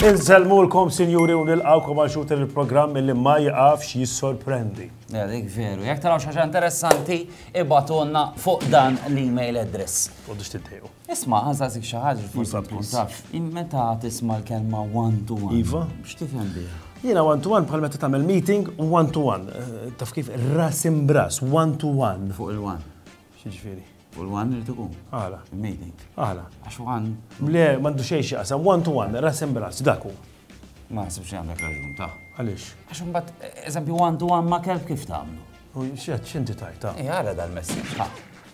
Inselmu l-kom sinjuri u nil-għawkom għal xut il-program li ma jgħafx jissorprendi. Dik veru, jek taraw xaġa interessanti, ibatonna fuq dan l-email address. U dix tiddejqu. Isma' nsaqsik xi ħaġa li forsi ma tkunx tafx. Meta tisma' l-kelma one to one. Iva. X'tifhem biha? Jiena one to one bħal meta tagħmel meeting one to one. Eh, taf kif ras imbras, one to one. Fuq il-one. X'ġifieri? U l-one irid ikun. Għala. Meeting. Għala. Għax one. Le, m'għandu xejn xi qasam, one to one, ras imbras, dak hu. Ma naħsibx li għandek raġun ta'. Għaliex? Għax imbagħad eżempju one to one ma' kelb kif tagħmlu? U x'inti tajta? Eh, għala dal-messaġġ.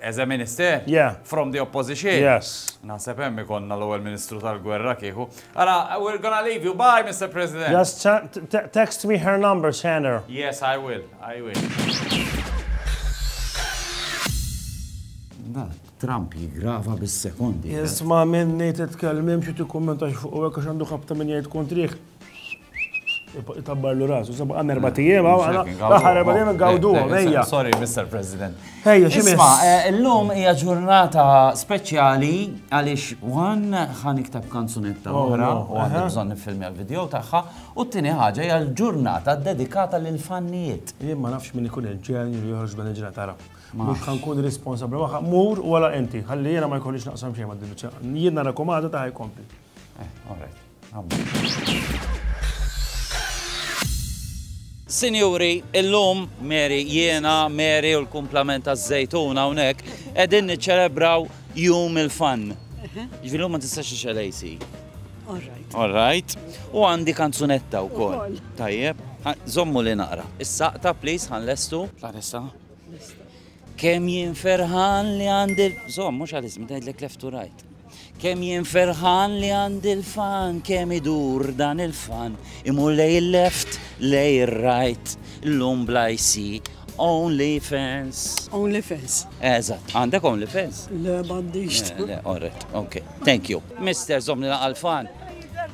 As a minister? Yeah. From the opposition? Yes. Naħseb hemm ikonna l-ewwel Ministru tal-Gwerra kieku. Ara, we're gonna leave you. Bye, Mr. President. Just text me her number, Shanner. Yes, I will. I will. Trump jigrava bis-sekondi. Isma minni titkellmim xi tikkumentax fuq hekk għax għandu ħabta minn jgħid kontriħ. Itabbarlu rasu, sabu għan erba tijem, għan erba tijem għawdu, għajja. Sorry, Mr. President. Ejja, ximma. Isma, eh, l-lum hija ġurnata speċjali għalix għan għan iktab kanzunetta oh, oħra, u għan bżon nifilmi għal-video taħħa, u t-tini ħagġa hija l-ġurnata dedikata l-fannijiet. Jien ma nafx minn ikun il-ġen li joħroġ dan il-ġurnata tara. Mux kan kun responsabli waħħa, mur u għala enti, għalli jena ma jkollix naqsam xejn ma d-dibċa. Jien nara komada ta' ħaj kompli. Eh, all right. Sinjuri, illum Mary, jiena, Mary u l-kumplament taż-żejtun hawnhekk qegħdin niċċelebraw jum il-fan. Ġifieri ma tistax ixel AC. All right. U għandi kanzunetta wkoll. Tajjeb. Zommu li naqra. Is-saqta, please, ħanlestu. Għalissa. Kem jien ferħan li għandi. Zom, mux għal-ismi, dajdlek left to right. Kemm jien ferħan li għandi l-fan kemm idur dan il-fan imur lejn il-left lejn ir-right llum bl-IC Only fans. Only fans. Eżatt, għandek only fans? Le, m'għandix. Eh, le, alright, ok. Thank you. Mister, zomni naqal fan.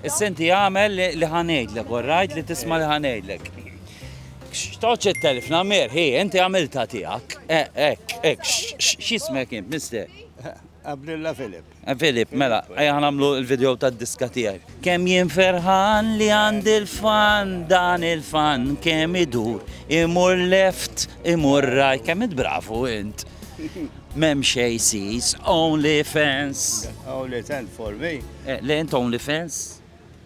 Is-senti għamel li ħanejdlek, alright, li tisma li ħanejdlek. Xtoċ il-telf, namer, hi, inti għamilta tijak. Ek, eh, ek, xismek jim, mister. Abdilla Filip. Eh, Filip, mela, għajja għanamlu il-video ta' diska tijaj. Kem jien ferħan li għand il-fan, dan il-fan, kem idur, imur left, imur right, kem id-bravu int. Mem xej sis, only fans. Only fans for me. Eh, le int only fans?